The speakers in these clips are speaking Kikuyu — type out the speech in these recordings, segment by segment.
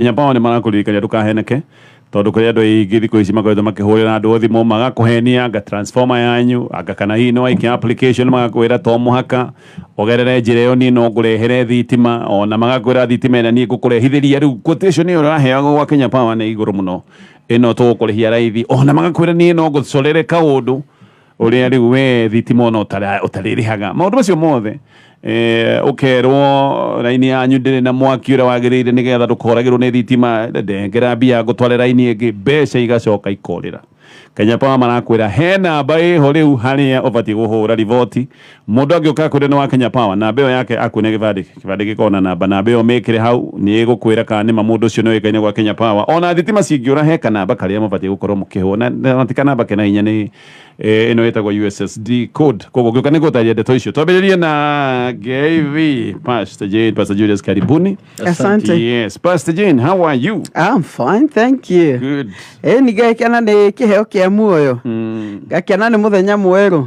Nginya Paul nĩ marakũririkania ndũkaheneke tondũ kũrĩ andũ aingĩ thikũ ici makoretwo makĩhũrĩra andũ thimũ magakũhenia anga transformer yanyu anga kana hihi nĩ waikia application magakwĩra to mũhaka ũgerere njĩra ĩyo niĩ no ngũrehere thitima ona magakwĩra thitima ĩrĩa niĩ ngũkũrehithĩria rĩu quotation ĩyo ũraheagwo gwa Kenya Power nĩ igũrũ mũno ĩno tũgũkũrĩhia raithi ona magakwĩra niĩ no ngũcorere kaũndũ Ũrĩa rĩu we thitima ona ũtara- ũtarĩrĩhaga maũndũ macio mothe eh, ũkerwo raini yanyu ndĩrĩ na mwaki ũrĩa wagĩrĩire nĩgetha ndũkoragĩrwo nĩ thitima ndengera mbia ngũtware raini ĩngĩ mbeca igacoka ikorĩra Kenya Power marakwĩra he namba ĩho rĩu harĩa ũbatiĩ kũhũra riboti Mũndũ angĩũka akwĩre nĩ wa Kenya Power, namba ĩyo yake akuonia gĩbandĩ, kĩbandĩ gĩkoragwo na namba, namba ĩyo ũmĩkĩre hau, nĩ ĩgũkwĩra kana nĩ ma mũndũ ũcio nĩ oĩkaine gwa Kenya Power. O na thitima cingĩũra he kanamba karĩa mũbatiĩ gũkorwo mũkĩhũra, na ti kanamba kena hinya, nĩ ĩno ĩtagwo USSD code. Kwoguo ngĩũka nĩ ngũgũtarĩria ndeto icio. Twambĩrĩrie na GIV, Pastor Jane, Pastor Julius, karibuni. Asante. Yes, Pastor Jane, how are you? I'm fine, thank you. Good. Ĩni ngakena nĩ kĩheo kĩa muoyo, Mm. ngakena nĩ mũthenya mwerũ.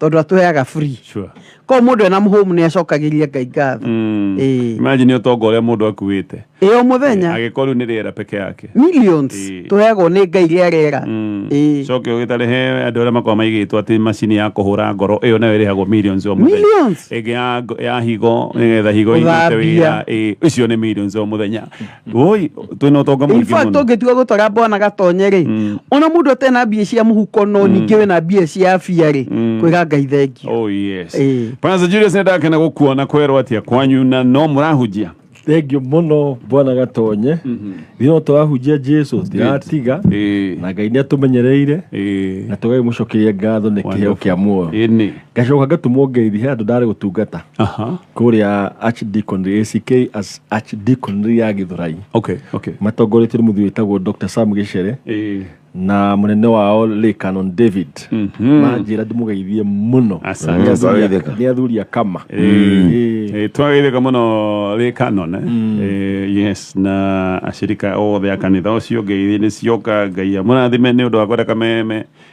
tondå atåheaga free Sure. ko må ndå ena må hå mu nä acokagä ngai ngatho Mm. Ĩĩ. Imagine ũtonga ũrĩa mũndũ akuĩte ä o må thenya agĩkorwo rĩu nĩ rĩera peke yake millions Ĩĩ. tå heagwo nä ngai rä a rera Mm. Ĩĩ. coke ũgĩtarĩ he andũ arĩa makoragwo maigĩtwo atĩ macini ya kũhũra ngoro ĩyo nayo ĩrĩhagwo millions o mũthenya Millions? ĩngĩ ya, ngo- ya higo nĩgetha higo irute Gũthambia. wĩra ĩĩ, icio nĩ millions o mũthenya Woi, twä na å tonga må In ingä fact må ũngĩtua gũtwara bwana gatonye rĩ Mm. ona mũndũ atarĩ na mbia cia mũhuko no ningĩ wĩ na mbia cia bia rĩ Mm. kwĩra ngai thengio Oh, yes. Eh. Bwana Julius nä ndakena gå kuona kwerwo atä a kwanyu na no må rahunjia thengio mũno bwana gatonye ithuĩ no tũrahunjia jesu tiratiga Ĩĩ. na ngai nĩ atũmenyereire Ĩĩ. na tũgai mũcokeria ngatho nĩ kĩheo kĩa muoyo Ĩĩ nĩ. ngacoka ngatũmwo ngeithi he andũ ndarĩ gũtungata Aha. kũrĩa archdeacon ack as Archdeaconry ya Githurai okay okay matongoretio nĩ mũthuri wĩtagwo Dr. Sam Gĩcere eh na mũnene wao Lee Canon David manjĩra ndĩmũgeithie mũno Asante. Nĩ athuri a- Twageithĩka. nĩ athuri a kama Eh. Eh, twagĩrĩka mũno rĩ kanon eh? Eh, yes na acirika othe a kanitha ũcio ngeithi nĩ cioka ngai amũrathime nĩ ũndũ wa kwenda kameme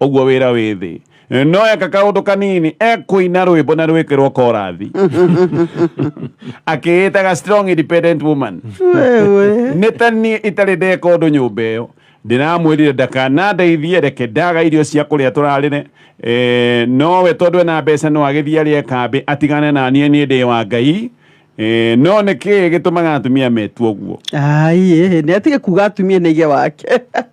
ũguo wĩra wĩ thĩ no eka kaũndũ kanini ekũina rwĩmbo na rwĩkĩrwo korathi akĩĩtaga strong independent woman Wewe. nĩ ta niĩ itarĩ ndeka ũndũ nyũmba ĩyo ndĩramwĩrire ndakanandeithie reke ndaga irio cia kũrĩa tũrarĩre Eh, nowe tondũ ena mbeca no agĩthiĩ arĩe kambĩ atigane na niĩ niĩ ndĩ wa ngai Eh, none kĩ gĩtũmaga atumia metue ũguo ai ĩ, nĩ atige kuga atumia nĩ ithe wake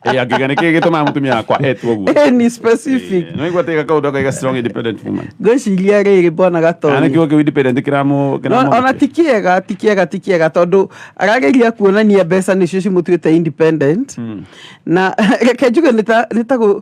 Eh, angĩga nĩ kĩ gĩtũmaga mũtumia wakwa etue ũguo Ĩ, ni specific Eh, noigua atĩ gakaũndũ akaiga strong independent woman ngwĩciria rĩrĩ mbona Kana gatonĩ nĩkĩo kĩu independent kĩramũ No- kĩramũ- ona ti kĩega ti kĩega ti kĩega tondũ arageria kuonania mbeca nĩcio cimũtuĩte independent na reke njuge nĩ ta- nĩ ta gũ-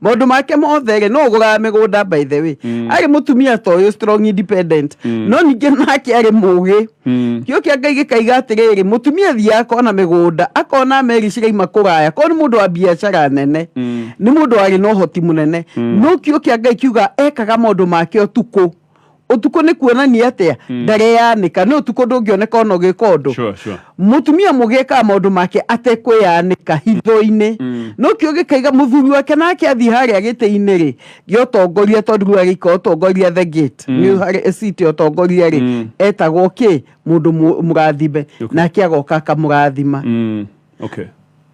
maundu make mothe rĩ no ũgũraga mĩgũnda by the way Mm. arĩ mũtumia ta ũyũ strong independent Mm. no ningĩ nake arĩ mũgĩ Mm. kĩo kĩa ngai gĩkaiga atĩrĩrĩ mũtumia athiaga akona mĩgũnda akona meri ciraima kũraya korwo nĩ mũndũ wa biacara nene Mm. nĩ mũndũ warĩ na ũhoti mũnene Mm. no kĩo kĩa ngai kiuga ekaga maũndũ make ũtukũ ũtukũ nĩ kuonania atĩa mm. ndareyanĩka nĩ ũtukũ ndũngĩoneka ona ũgĩka ũndũ sure, sure. mũtumia mũgĩkaga maũndũ make atekwĩyanĩka hitho-inĩ mm. no kĩo gĩkaiga mũthuri wake nake athiĩ harĩa gĩtĩ-inĩ rĩ gĩotongoria tondũ rĩu agĩika ũtongoria the gate mm. nĩ harĩ city ũtongoria rĩ mm. etagwo kĩ mũndũ mũrathime okay. nake agoka akamũrathima mm. okay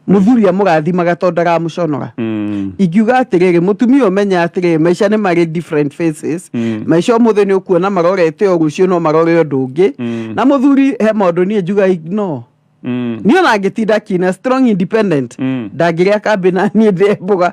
muthuri amũrathimaga tondũ ndaramũconoga mm. ingiuga atĩrĩrĩ mutumia ũmenya atĩrĩrĩ maica nĩ marĩ different faces mm. maica ũmũthĩ nĩ ũkuona marorete ũũ rũciũ no marore ũndũ ũngĩ mm. na muthuri he maũndũ niĩ njuga no mm. niä ona ngä tinda kina strong independent mm. ndangä rä a kambä na niä ndä mboga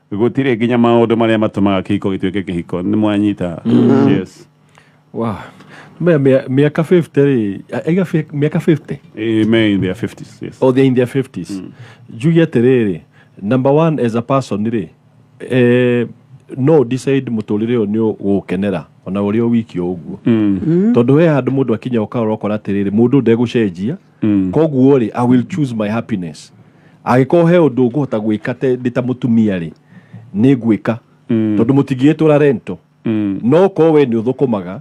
Gũtirĩ nginya maũndũ marĩa matũmaga kĩhiko gĩtuĩke kĩhiko. Nĩ mwanyita. Yes. Wow. Maya mĩa- mĩaka 50 rĩ aiga fi- mĩaka 50 Eh, me in their 50s. Yes. or they're in their 50s njuge atĩrĩrĩ number one as a person rĩ eh, no decide mũtũrĩre ũyũ nĩ ũgũkenera ona ũrĩ o wiki o ũguo tondũ he handũ mũndũ akinya ũkarora ũkona atĩrĩrĩ mũndũ ndegũcenjia mm. koguo rĩ i will choose my happiness agĩkorwo he ũndũ ngũhota gwĩka ndĩ ta mũtumia rĩ nĩ ngwĩka mm. tondũ mũtingĩgĩtũra rento mm. no korwo we nĩ ũthũkũmaga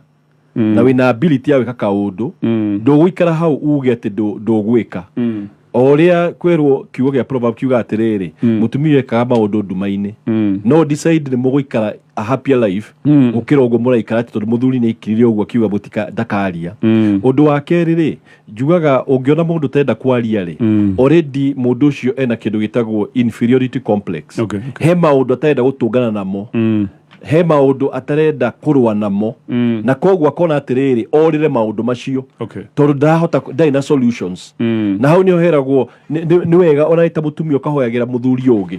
mm. na wĩna ability ya gwĩka kaũndũ mm. ndũgũikara hau uge atĩ ndũgwĩka mm. o ũrĩa kwĩrwo kiugo gĩa proverb kiuga atĩrĩrĩ mm. mũtumia ekaga maũndũ nduma-inĩ mm. no decide nĩ mũgũikara a happier life mm. gũkĩra ũguo mũraikara tondũ mũthuri nĩ aikirire ũguo akiuga mũtika ndakaria mm. ũndũ wa kerĩ rĩ njugaga ũngĩona mũndũ ũtenda kwaria rĩ mm. already mũndũ ũcio ena kĩndũ gĩtagwo inferiority complex okay, okay. he maũndũ atarenda gũtũngana namo mm. he maũndũ atarenda kũrũa namo mm. na koguo akona atĩrĩrĩ orĩre maũndũ macio okay. tondũ ndahota ndarĩ na solutions mm. na hau nĩho heragwo nĩ wega ona ĩta mũtumia ũkahoyagĩra mũthuri ũngĩ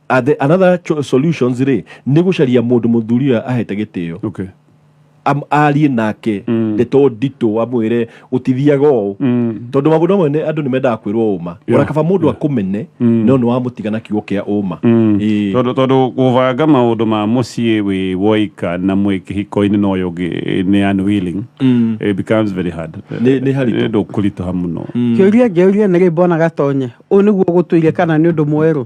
And the, another cho- solutions rĩ nĩ gũcaria mũndũ mũthuri ũyũ ahete gĩtĩo okay Am- arie nake ndeto nditũ amwĩre gũtithiaga ũũ tondũ maũndũ amwe nĩ- andũ nĩ mendaga kwĩrwo ũma Yeah. ona kaba mũndũ akũmene no nĩ wamũtiga na kiugo kĩa ũma Ĩĩ. tondå tondå gũbanga maũndũ ma mũciĩ wĩ woika na mwĩ kĩhiko-inĩ na ũyũ ũngĩ nĩ unwilling Mm. it becomes very hard Nĩ- nĩ haritũ. Nĩ ũndũ kũritũha mũno kä å ria ngä å ria nä rä mbonaga tonye å nä guo gå tå ire kana nä å ndå mwerå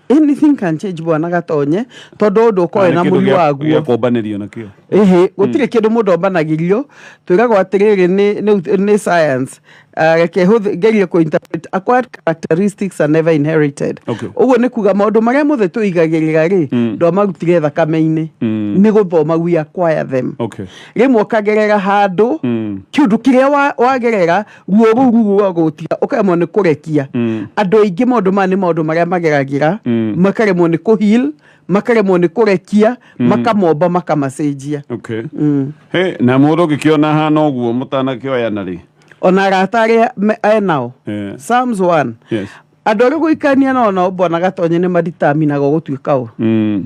anything can change bwana gatonye tondu undu ukoe na muri waguo gĩakombanĩrio nakĩo ĩhĩ gũtirĩ kĩndũ mũndũ ombanagĩrio twĩragwo atĩrĩrĩ nĩ- nĩ- nĩ science Ah, reke hũthĩ- ngerie kũ interpret acquired characteristics are never inherited Okay. ũguo nĩ kuga maũndũ marĩa mothe tũigagĩrĩra rĩ Mm. ndomarutire thakame-inĩ Mm. nĩ gũthoma we acquire them okay rĩmwe ũkagerera handũ Mm. kĩũndũ kĩrĩa wa- wagerera ruo rũu ruo rũragũtira ũkaremwo nĩ kũrekia Mm. andũ aingĩ maũndũ maya nĩ maũndũ marĩa mageragĩra Mm. makaremwo nĩ kũhil makaremwo nĩ kũrekia makamomba makamacenjia okay Mm. Hey, na mũndũ ũngĩkĩona hana ũguo mũtanakĩoyana rĩ ona arata arĩa me- e nao Eh. Psalms 1 Yes. andå arä gå ikania nao nao mbonaga tonye nä maritaminaga gå tuä ka å Mm.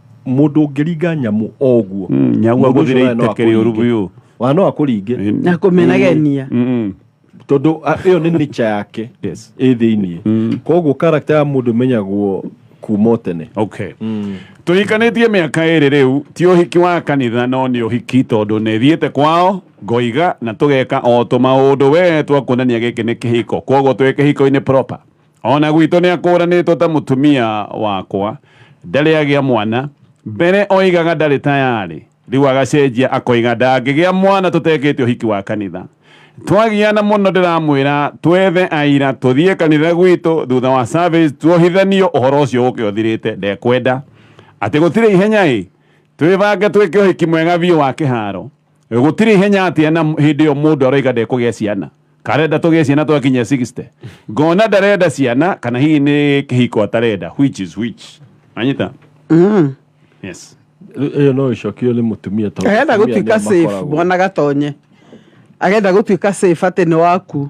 mundu ngiringa nyamu oguo mm, nyamu aguthire iteke riuru biu wa no akuringe mm. na kumenagenia mm. tondu iyo ni nature yake yes i thiini koguo character ya mundu menyagwo kuma tene okay mm. tuhikanitie miaka iri riu ti uhiki wa kanitha no ni uhiki tondu ni thiite kwao ngoiga na tugeka o tumaundu we twakuonania giki ni kihiko koguo twi kihiko-ini proper O na gwitũ nĩ akũũranĩtwo ta mũtumia wakwa. Ndarĩ agĩa mwana. Mbere oigaga ndarĩ tayarĩ, rĩu agacenjia akoiga ndangĩgĩa mwana tũtekĩte ũhiki wa kanitha. Twagiana mũno ndĩramwĩra twethe aira tũthiĩ kanitha gwitũ thutha wa service tuohithanio ũhoro ũcio ũke ũthirĩte. Ndekwenda. Atĩ gũtirĩ ihenya ĩ! Twĩbange twĩke ũhiki mwega biũ wa kĩharo. gutiri ihenya atä na hä ndä ä yo må ndå aroiga ndekå gä a ciana karenda tå gä a ciana twakinya 60 ngona ndarenda ciana kana hihi nä kä hiko atarenda which is which anyita yes Rĩu ĩyo no ĩcokio nĩ mũtumia tondũ arenda atumia nĩo gũtuĩka safe makoragwo. mwana gatonye arenda gũtuĩka safe atĩ nĩ waku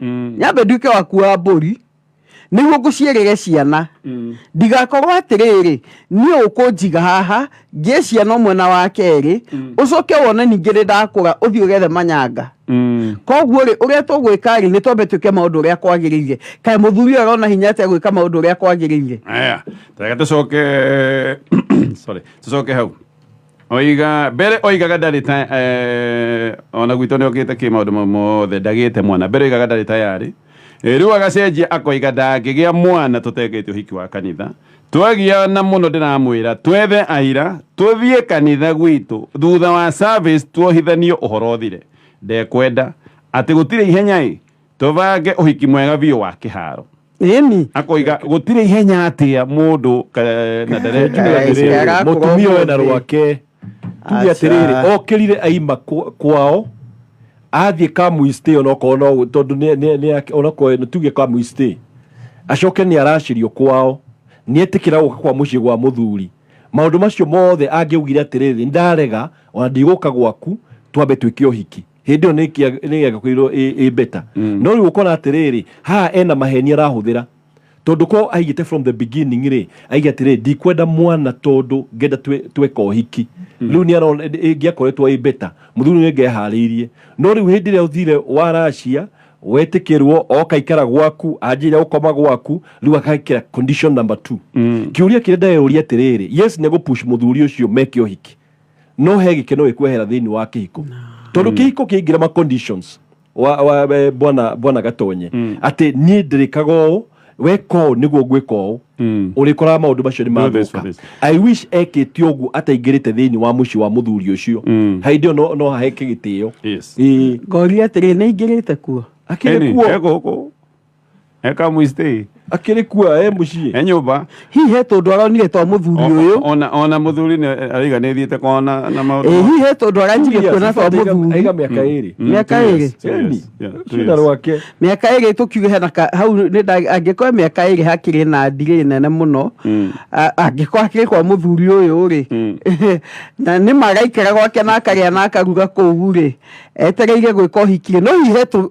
Mm. nyambe nduĩke waku wa mbũri nĩguo ngũciarĩre ciana Mm. ndigakorwo atĩrĩrĩ niĩ ũkũnjiga haha ngĩe ciana ũmwe na wa kerĩ Mm. ũcoke wone ningĩ nĩ ndakũra ũthiĩ ũgethe manyanga Mm. koguo rĩ ũrĩa tũgwĩka rĩ nĩ twambe twĩke maũndũ ũrĩa kwagĩrĩire kaĩ mũthuri ũyũ arona hinya atĩa gwĩka maũndũ ũrĩa kwagĩrĩire Aya, tareka tũcoke sorry, tũcoke hau oiga mbere oigaga ndarĩ ta eh, ona gwitũ nĩ okĩte kä maå ndå mau mothe ndagä te mwana mbere oigaga ndarä tayarĩ Eh, rĩu agacenjia akoiga ndangĩgĩa mwana tũtekĩtie ũhiki wa kanitha twagiana mũno ndĩramwĩra twethe aira tũthiĩ kanitha gwitũ thutha wa service tuohithanio ũhoro ũthire ndekwenda atĩ gũtirĩ ihenya ĩ tũbange ũhiki mwega biũ wa kĩharo Ĩni. akoiga gũtirĩ ihenya atĩa mũndũ ka- na ndere- Ndere- Ndere- mutumia ũyũ na rwake tuge atĩrĩrĩ Aca. okĩrire aima kw- kwao athiĩ kamuistĩ onokorwo no tondũ nĩ- nĩ- nĩ ake- onokorwo nĩ- tuge kamuistĩ acoke nĩ aracirio kwao nĩ etĩkĩra gũka kwa mũciĩ gwa mũthuri maũndũ macio mothe angĩaugire atĩrĩrĩ ndarega ona ndigũka gwaku twambe twĩke ũhiki hĩndĩ ĩyo nĩ ĩkia- nĩ ĩgĩakoirwo ĩ ĩ beta no rĩu ũkona atĩrĩrĩ haha ena maheni arahũthĩra tondũ ko aigĩte from the beginning rĩ aige atĩrĩ ndikwenda mwana tondũ ngenda twe- tweka ũhiki rĩu nĩ arona ĩngĩakoretwo ĩ beta mũthuri nĩ ngeharĩirie no rĩu hĩndĩ ĩrĩa ũthire waracia wetĩkĩrwo oka ikara gwaku anjĩrĩria gũkoma gwaku rĩu agekĩra condition number two kĩũria kĩrĩa ndeyũria atĩrĩrĩ yes nĩ egũpush mũthuri ũcio meke ũhiki no he gikeno gikwehera thiini wa kihiko tondu kihiko kiingira ma conditions wa, wa, eh, bwana bwana gatonye mm. ati nie ndirikaga uu weka uu niguo ngwika uu mm. urikoraga maundu macio ni mathuka i wish ekite uguo ataingirite thiini wa muci wa muthuri ucio mm. hindi iyo no, no haheke gitio yes. ngoria atiri ni ingirite kuo akire kuo eka mũistĩ akĩrĩ kuo e mũciĩ e nyũmba hihi he tũndũ aronire twa mũthuri O- ũyũ o- ona ona mũthuri nĩ ariganĩthiĩte kwa na na maũndũ ĩ hihi he tũndũ aranjirie kuona twa aiga mũthuri mĩaka ĩrĩ Mm, Mĩaka two years, ĩrĩ? two years, Eni, yeah, two cina years. rwake mĩaka ĩrĩ tũkiuge hena ka- hau nĩ nda- angĩkorwo mĩaka ĩrĩ hakĩrĩ na ndirĩ nene mũno Mm. a- angĩkorwo hakĩrĩ kwa mũthuri ũyũ rĩ Mm. na nĩ magaikara gwake na akarĩa na akaruga kũu rĩ etereire gwĩka ũhiki no hihi he tũ-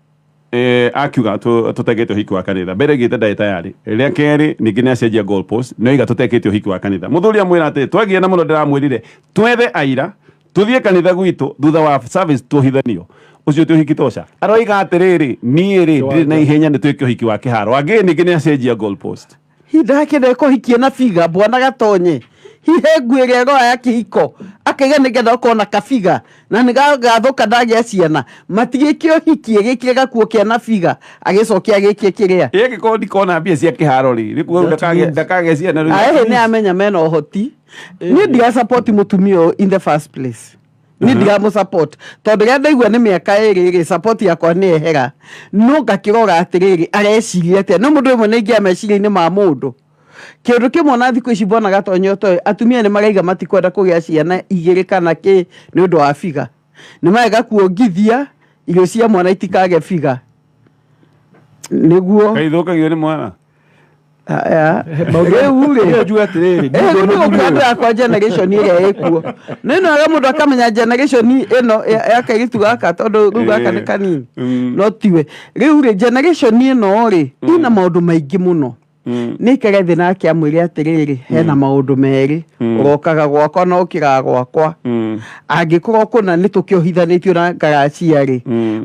eh, akiuga tu- tutegete uhiki wa kanitha mbere gite ndai tayari ria keri ningi niacenjia goal post no iga tutekete uhiki wa kanitha muthuri amwira ati twagie na muno ndiramwirire twethe aira tuthie kanitha gwitu thutha wa service tuhithanio ucio ti uhiki toca aroiga atiriri nie ri ndiri na ihenya ni twike uhiki wa kiharo angi ningi niacenjia goal post Hindake na ĩkũhikie na biga bwana gatonye hihe nguĩ gĩa goa ya kĩhiko akĩge nĩgetha ũkorwo na kabiga na nĩgagathũka ndagĩa ciana matigĩke ũhikie gĩkire gakuo kĩa na biga agĩcokia gĩkie kĩrĩa ĩ angĩkorwo ndikona mbia cia kĩharo rĩ rĩkuo rĩu ndakagĩa ndakagĩa ciana rĩu aĩhĩ nĩ amenya mena ũhoti niĩ ndiga support mũtumia ũyũ in the first place ni ndiramu support tondu ria ndaigua ni miaka iri ri support yakwa ni ehera no ngakirora atiriri areciria atia no mundu imwe ningia meciria-ini ma mundu kindu kimwe na thiku ici mbonaga tonyo toy atumia ni maraiga matikwenda kugia ciana igiri kana ki ni undu wa biga ni marega kuongithia irio cia mwana itikage biga niguo Kaithũkagio nĩ mwana. rĩu atĩrĩrĩ andå yakwa generation ĩrĩa ĩkuo no ĩno aga mũndũ akamenya generation ĩno ya kairitu gaka tondũ rĩu gaka nĩ kanini mm. no tiwe rĩu rĩ generation ĩno rĩ mm. ina maũndũ maingĩ mũno mm. nä kere thä nake amwä re atä rä rä hena maå ndå merä å rokaga gwakwa na å kä raga gwakwa angä korwo kå na nä tå kä ohithanä tio na ngaracia rä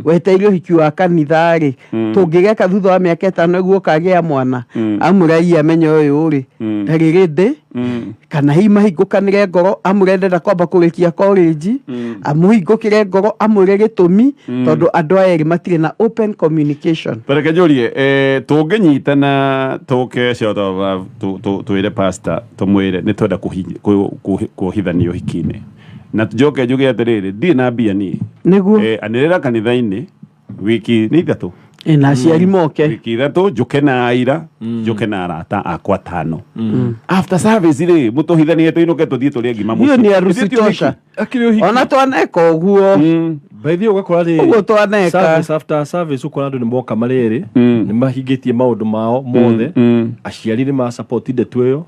weteire å hiki wa kanitha rä Mm. tũngĩgeka thutha wa mĩaka ĩtano guo kagĩa mwana Mm. amũre iye amenya ũyũ rĩ Mm. ndarĩ rĩndĩ Mm. kana hihi mahingũkanĩre ngoro amũre ndenda kwamba kũrĩkia korĩnji Mm. amũhingũkĩre ngoro amũre gĩtũmi Mm. tondũ andũ aya erĩ matirĩ na open communication Tareke njũrie eh, tũngĩnyitana tũke short of love tũ- tũ- twĩre pastor tũmwĩre nĩ twenda kũhi- kũ- kũ- kũhithania ũhiki-inĩ na njoke njuge atĩrĩrĩ ndirĩ na mbia niĩ nĩguo Eh, anĩrĩra kanitha-inĩ wiki nä ithatå Ĩ, na aciari moke wiki ithatå njå na aira njå ke na arata akwa tano after service rä må tå hithanie tå inå ke tå thiä tå rä ngima hiyo ni arusi tosha akiri uhiki ona twaneka ũguo by the way ugakora rä ũguo twaneka service after service ukora andu nimoka mari eri Mm. nimahingĩtie maundu mao mothe aciari nĩ ma support ndeto ĩyo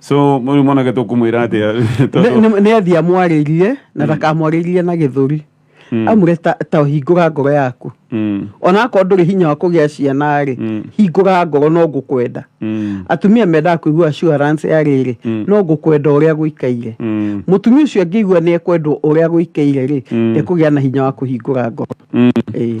so mũrĩ mwanake tũkũmwĩra atĩa Nĩ- tondũ nĩ- nĩ athiĩ amwarĩrie na ndakamwarĩrie na gĩthũri Mm. amwĩre ta- ta hingũra ngoro yaku Mm, ona akorwo ndũrĩ hinya wa kũgĩa ciana rĩ Mm. hingũra ngoro no ngũkwenda mm, atumia mendaga kũigua assurance ya rĩrĩ Mm. no ngũkwenda ũrĩa gũikaire mm, mũtumia ũcio angĩigua nĩ ekwendwo ũrĩa gũikaire rĩ Mm. ekũgĩa na hinya wa kũhingũra ngoro mm. Ĩĩ.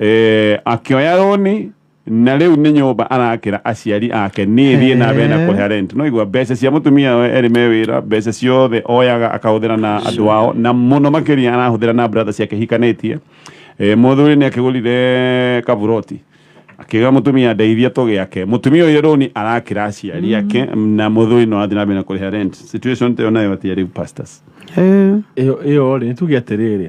Eh, akĩoya rũni na rĩu nĩ nyũmba arakĩra aciari ake niĩ thiĩ na mbere na Eh. kũrĩha rent no igua mbeca cia mũtumia we erĩ me wĩra mbeca ciothe oyaga akahũthĩra na andũ ao na mũno makĩria arahũthĩra na brother ciake hikanĩtie Eh, mũthuri nĩ akĩgũrire kaburoti akĩga mũtumia ndeithia tũgĩake mũtumia ũyũ rũni arakĩra aciari ake na mũthuri no athiĩ na mbere na kũrĩha rent situation ta ĩyo nayo atĩa rĩu pastors Eh, ĩyo ĩyo rĩ nĩtuge atĩrĩrĩ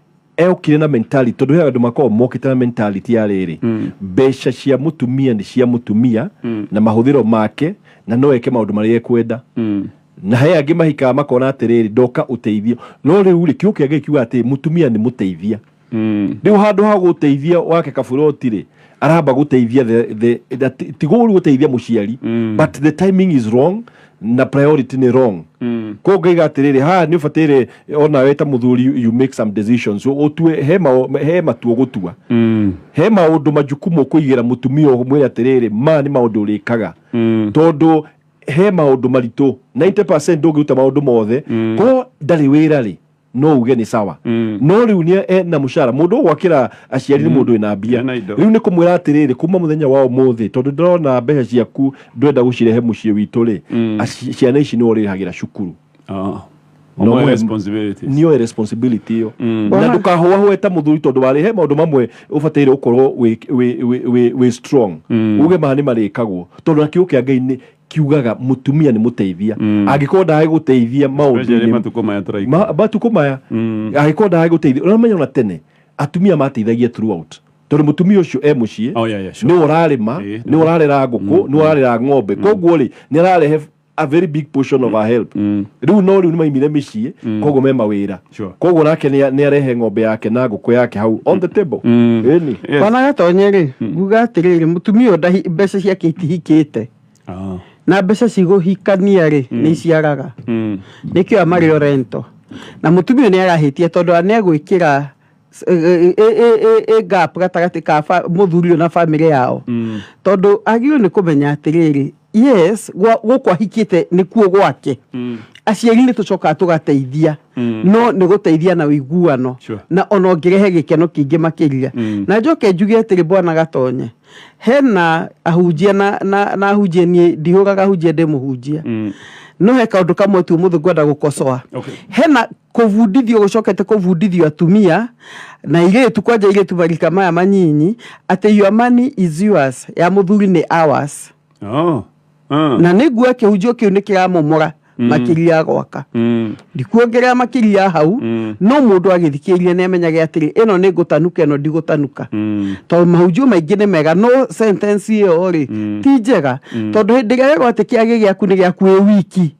eokire na mentality tondu he andu makoragwo mokite na mentality ya riri mm. mbeca cia mutumia ni cia mutumia mm. na mahuthiro make na no eke maundu maria ekwenda mm. na he angi mahikaga makona atiriri ndoka uteithio no riu ri kiuke ngai kiuga ati mutumia ni muteithia riu handu ha guteithia wake kaburoti ri aramba guteithia the, the, the, ti- ti gũru guteithia muciari Mm. but the timing is wrong na priority ni wrong Mm. ko ngaiga atiriri ha ni ubatire ona we ta muthuri you- you make some decisions utue he mao- he matuo gutua Mm. he maundu majukumu kuigira mutumia mwira atiriri ma ni maundu urikaga Mm. tondu he maundu maritu 90% ndungiruta maundu mothe ko ndari wira ri no uge nĩ sawa Mm. no rĩu nĩ e na mũcara mũndũ gwakĩra aciari nĩ mũndũ wĩna mbia Ena indo. rĩu nĩ kũmwĩra atĩrĩrĩ kuma mũthenya wa ũmũthĩ tondũ ndĩrona mbeca ciaku ndwenda gũcirehe mũciĩ witũ rĩ Mm. aci- ciana ici nĩ ũrĩhagĩra cukuru Ah. No Omo mwe- responsibilities. nĩoe responsibility ĩyo Mm. na ndũkahũahũe ta mũthuri tondũ warĩ he maũndũ mamwe ũbataire gũkorwo wĩ- wĩ- wĩ- wĩ- wĩ strong Mm. uge maha nĩ marĩkagwo tondũ na kiugo kĩa ngai nĩ kiugaga mutumia ni muteithia mm. angikorwo ndae guteithia maundu matuko maya turaikara matuko maya mm. angikorwo ndae guteithia uramenya ona tene atumia mateithagia throughout tondu mutumia ucio e mucii oh, yeah, yeah, sure. ni urarima eh, ni urarera nguku mm, ni mm. urarera ng'ombe mm. koguo ri ni ararehe a very big portion of our help riu no riu ni maimire micii koguo me mawira Sure. koguo nake nĩ nĩ arehe ng'ombe yake na ngũkũ yake hau on the table Mm. Ĩni. Yes. kwana gatonye rĩ nguga atĩrĩrĩ mũtumia ũyũ ndahi- mbeca ciake itihikĩte Ah. na mbeca cigũhikania rĩ nĩ iciaraga Mm. nĩkĩo amarĩ orento na mũtumia ũyũ nĩ arahĩtia tondũ nĩ egwĩkĩra gap gatagatĩ ka fa- mũthuri ũyũ na bamĩrĩ yao Mm. tondũ agĩrĩirwo nĩ kũmenya atĩrĩrĩ yes gwa- gũkũ ahikĩte nĩkuo gwake Mm. aciari nĩ tũcokaga tũgateithia Mm. no nĩ gũteithia na ũiguano Sure. na ona ũngĩrehe gĩkeno kĩingĩ makĩria Mm. na njoke njuge atĩrĩ bwana gatonye hena ahunjia na, na, na ahunjia niĩ ndihũraga ahunjia ndĩ mũhunjia Mm. no he kaũndũ kamwe tu mũthĩ ngwenda gũkocoa Okay. hena Kũbundithio gũcokete kũbundithio atumia na airĩtu kwanja airĩtu marika maya manyinyi atĩ your money is yours ya mũthuri nĩ ours Oh. Ah. na nĩ nguo kĩhunjio kĩu nĩ kĩramomora makĩria gwaka Mm. ndikuongerera makĩria hau Mm. no mũndũ agĩthikĩrĩria nĩ amenyage atĩrĩ ĩno nĩ ngũtanuka ĩno ndigũtanuka Mm. tondũ mahunjio maingĩ nĩ mega no sentence ĩyo rĩ ti njega tondũ hĩndĩ ĩrĩa wĩrwo atĩ kĩagĩ gĩaku nĩ gĩaku wĩ wiki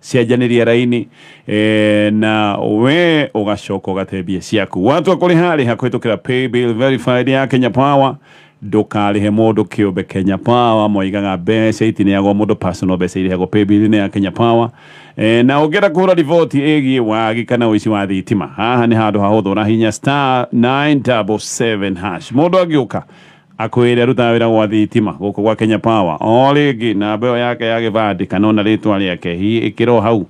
cianjanĩria raini eh, na we ũgacoka ũgatebia ciaku watua kũrĩha rĩha kũhĩtũkĩra paybill verified ya kenya power ndũkarĩhe mũndũ kĩũmbe kenya power moigaga mbeca itineagwo mũndũ personal mbeca irĩhagwo paybill-inĩ ya kenya power eh, na ũngĩenda kũhũra riboti ĩgiĩ wagi kana ũici wa thitima haha nĩ handũ hahũthũ ũrahinya star 977 hash mũndũ angĩũka akwĩre arutaga wĩra gwa thitima gũkũ gwa Kenya Power o rĩngĩ namba ĩyo yake ya gĩbandĩ kana ona rĩtwa rĩake hihi ĩkĩra o hau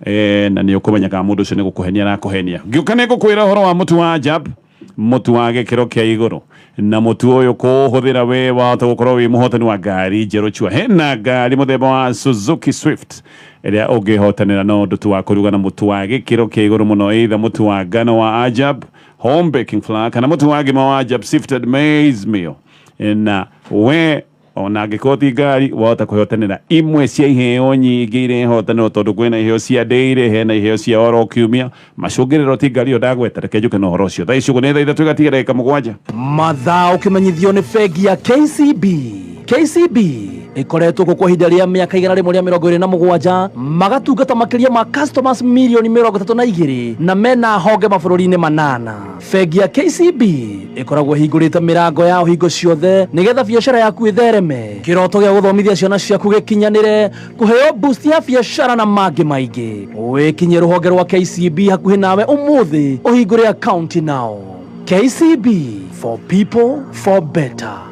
eh, na nĩ ũkũmenya kana mũndũ ũcio nĩ gũkũhenia arakũhenia ngĩũka nĩ ngũkwĩra ũhoro wa mũtu wa jab mũtu wa gĩkĩro kĩa igũrũ na mũtu ũyũ kũũhũthĩra wĩ wahota gũkorwo wĩ mũhotani wa ngari njerũ chua hena ngari mũthemba wa Suzuki Swift ĩrĩa ũngĩhotanĩra no ũndũ tu wa kũruga na mũtu wa gĩkĩro kĩa igũrũ mũno either mũtu wa ngano wa Ajab home baking flour kana mutu wage mawajab sifted maize meal na we ona angĩkorwo ti ngari wahota kwĩhotanĩra imwe cia iheo nyingĩ iria ihotanĩrwo tondũ kwĩna iheo cia ndĩire hena iheo cia oro kiumia macũngĩrĩro ti ngari ĩyo ndagweta reke njũke na ũhoro ũcio thaa icio nĩ thaa ithatũ igatiga ndagĩka mũgwanja mathaa ũkĩmenyithio nĩ bengi ya kcb KCB ĩkoretwo kuo kwa ihinda rĩa mĩaka igana rĩmwe rĩa mĩrongo ĩrĩ na mũgwanja magatungata makĩria ma customers milioni mĩrongo ĩtatũ na igĩrĩ na mena honge mabũrũri-inĩ manana bengi ya KCB ĩkoragwo ĩhingũrĩte mĩrango ya hingo ciothe nĩgetha biacara yaku ĩthereme kĩroto gĩa gũthomithia ciana ciaku gĩkinyanĩre kũheo boost ya biacara na mangĩ maingĩ wĩkinye rũhonge rwa KCB hakuhĩ nawe ũmũthĩ ũhingũre akaunti nao KCB for people for better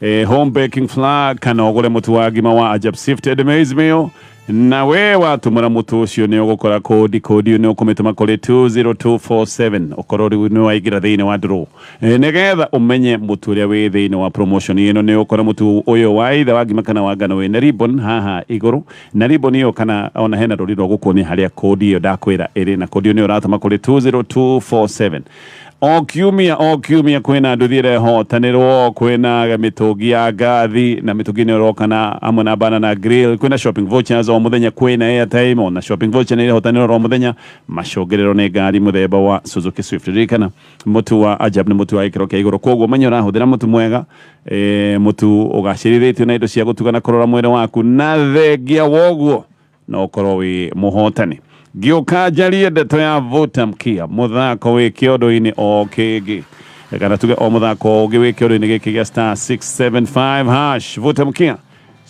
Eh, hombe king flag kana ogore mutu wa ngima wa ajab sifted maize meal na we watumura mutu ucio ni ugukora kodi kodi ni ukumituma kuri 20247 ukorwo riu ni waigira thiini wa nduru Eh, nigetha umenye mutu uria wi thiini wa promotion ino ni ukora mutu uyu wa ithe wa ngima kana wa ngano wi na ribbon haha iguru na ribbon iyo kana ona hena ruri rwa gukuonia haria kodi iyo ndakwira iri na kodi iyo ni uratuma kuri 20247 O kiumia o kiumia kwina nduthi irehotanirwo kwina mitungi ya ngathi na mitungi ni uroka na amwe na banana grill kwina shopping vouchers o muthenya kwina airtime ona shopping voucher ni irehotanirwo ro muthenya macungiriro ni ngari muthemba wa Suzuki Swift ririkana mutu wa Ajab ni mutu wa gikiro kia iguru koguo menya urahuthira mutu mwega e, mutu ugacirithiritio na indo cia gutuga na kurora mwiri waku na thengia woguo na ũkorwo wĩ mũhotani ngĩũka njarie ndeto ya vuta mkia mũthako wĩ kĩondo-inĩ o kĩngĩ kana tuge o mũthako ũngĩ wĩ kĩondo-inĩ gĩkĩ gĩa star 675 hash vuta mkia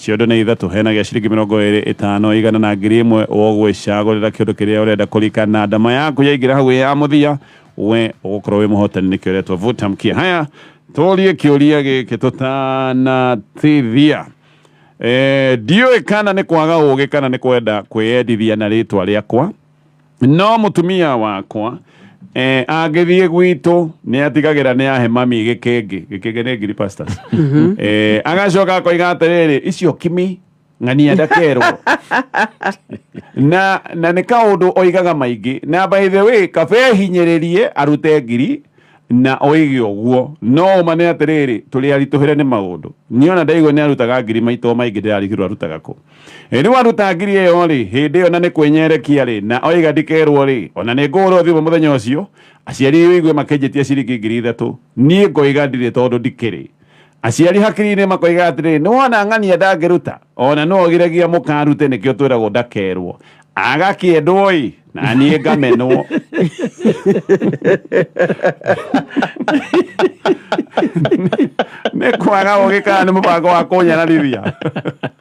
ciondo nĩ ithatũ hena gĩa ciringi mĩrongo ĩrĩ ĩtano igana na ngiri ĩmwe ũgwĩcagũrĩra kĩndũ kĩrĩa ũrenda kũrika na ndama yaku yaingĩra hau ya mũthia we ũgũkorwo wĩ mũhotani nĩkĩo ũretwo vuta mkia haya tũrie kĩũria gĩkĩ tũtanatithia Eh, ndiũĩ kana nĩ kwaga ũũgĩ kana nĩ kwenda kwĩyendithia na rĩtwa rĩakwa no mũtumia wakwa eh, angĩthiĩ gwitũ nĩ atigagĩra nĩ ahe mami gĩkĩngĩ gĩkĩngĩ nĩ ngiri pastors eh, agacoka akoiga atĩrĩrĩ icio kimi ng'ania ndakerwo na na nĩ kaũndũ oigaga maingĩ na by the way kabe hinyĩrĩrie arute ngiri Na oige ũguo, no ũma nĩ atĩrĩrĩ, tũrĩ aritũhĩre nĩ maũndũ. Niĩ o na ndaigua nĩ arutaga ngiri maita o maingĩ ndĩrarigĩrwo arutaga kũ. Rĩu aruta ngiri ĩyo-rĩ, hĩndĩ ĩyo na nĩ kwĩnyerekia-rĩ, na oiga ndikerwo-rĩ, o na nĩ ngũhũrwo thimũ mũthenya ũcio, aciari ũigue makĩnjĩtia ciringi ngiri ithatũ, niĩ ngoiga ndirĩ tondũ ndikĩrĩ. Aciari hakiri nĩ makoiga atĩrĩ, nĩ wona ng'ania ndangĩruta, ona no ogiragia mũkarute nĩkĩo twĩragwo ndakerwo. Agakĩendwo-ĩ, na niĩ ngamenwo. nĩ kwaga ũgĩ kana nĩ mũbango wa kũnyararithia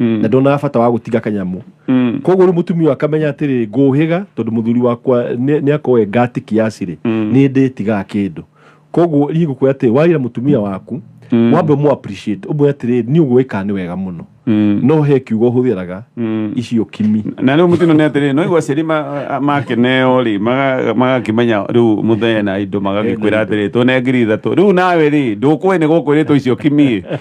Mm. na ndonaga bata wa gũtiga kanyamũ Mm. koguo rĩu mũtumia ũyũ akamenya atĩrĩ ngũhĩga tondũ mũthuri wakwa nĩ akoe ngatiki yacirĩ Mm. nĩ ndĩtigaga kĩndũ koguo niĩ ngũkwĩra atĩ warĩra mũtumia waku Mm. wambe mũ appreciate ũmwĩre atĩrĩ niĩ ũguo wĩkaga nĩ wega mũno Mm. no he kiugo hũthĩraga Mm. icio kimi na rä u må tino nä atä rä no igua ciari makeneo rä magakä menya rä u må thee na indo magagä kwä ra atä rä tå ne ngiri ithatå rä u nawe rä ndå kwä nä gå kwä rä two icio kimi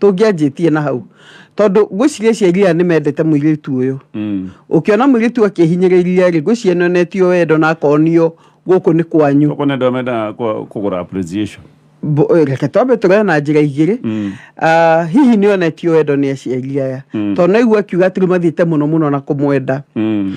tũngĩanjĩtie na hau tondũ ngwĩciria aciari aya nĩ mendete mũirĩtu ũyũ Mm. ũkĩona mũirĩtu akĩhinyĩrĩria rĩ ngwĩciria nĩ onetio wendo na akonio gũkũ nĩ kwanyu Gũkũ nĩ ndomenda kũ- kũgũra appreciation. Mbo- ĩ, reke twambe tũrore na njĩra igĩrĩ Mm. Ah, hihi nĩ onetio wendo nĩ aciari aya Mm. tondũ naigua akiuga atĩrĩ mathiĩte mũno mũno na kũmwenda Mm.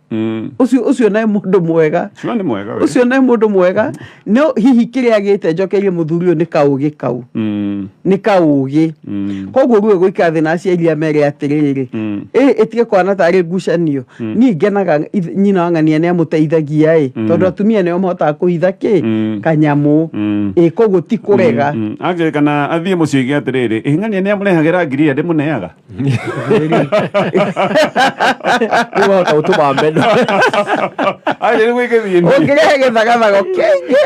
Mm. ucio ucio nae mundu mwega Sure nĩ mwega we. ucio nae mundu mwega no hihi kiria agite njokerie muthuri uyu ni kaugi kau Mm. ni kaugi Mm. koguo ruo gwika thä na aciari a merä atä rä rä Mm. ä tige kwana tarä ngucanio niä ngenaga ith- nyina wang'ania nä amå teithagia ä tondå atumia nä o mahotaga kå hitha kä Mm. kanyamå Mm. ä koguo ti kå rega Mm. angĩrĩkana athiĩ mũciĩ gĩa atĩrĩrĩ ĩng'ania nĩ amũrehagĩra ngiri ĩrĩa ndĩmũneaga nĩwota gũtũma meno ũngĩrehe gĩthagathago kĩingĩ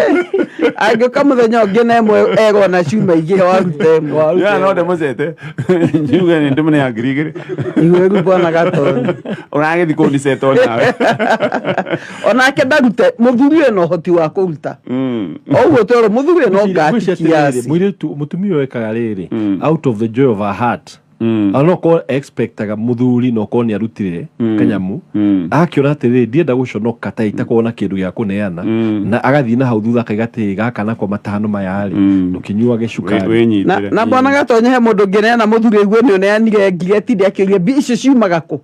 angĩũka mũthenya ũngĩ na ĩmwe egwo na cuma ingĩ waruta ĩmwe ya no ndĩmũcete njuge nĩ ndĩmũne ya ngiri igĩrĩ iwe rĩu bwana gatoni ũragĩthi kũnicetwo nawe onake ndarute muthuri uyu no hoti wa kuruta Mm. oguo twero muthuri uyu no ngati kiasi mwiritu mutumia uyu ekaga riri Mm. out of the joy of her heart Mm. anokorwo expectaga muthuri na okorwo nä arutire Mm. kanyamu Mm. akäona atä rä ndienda gå conoka ta itakorwo na kä ndå gä a kå neana Mm. na agathiä na hau thutha akaiga atä gaka nakwa matano maya rä Mm. ndå kä nyuage Wĩ- cukari na wĩnyitĩre. na mwana gatonye he mundu ngineana muthuri uguo ni uneanire ngigeti ndi akiuria mbia icio ciumaga ku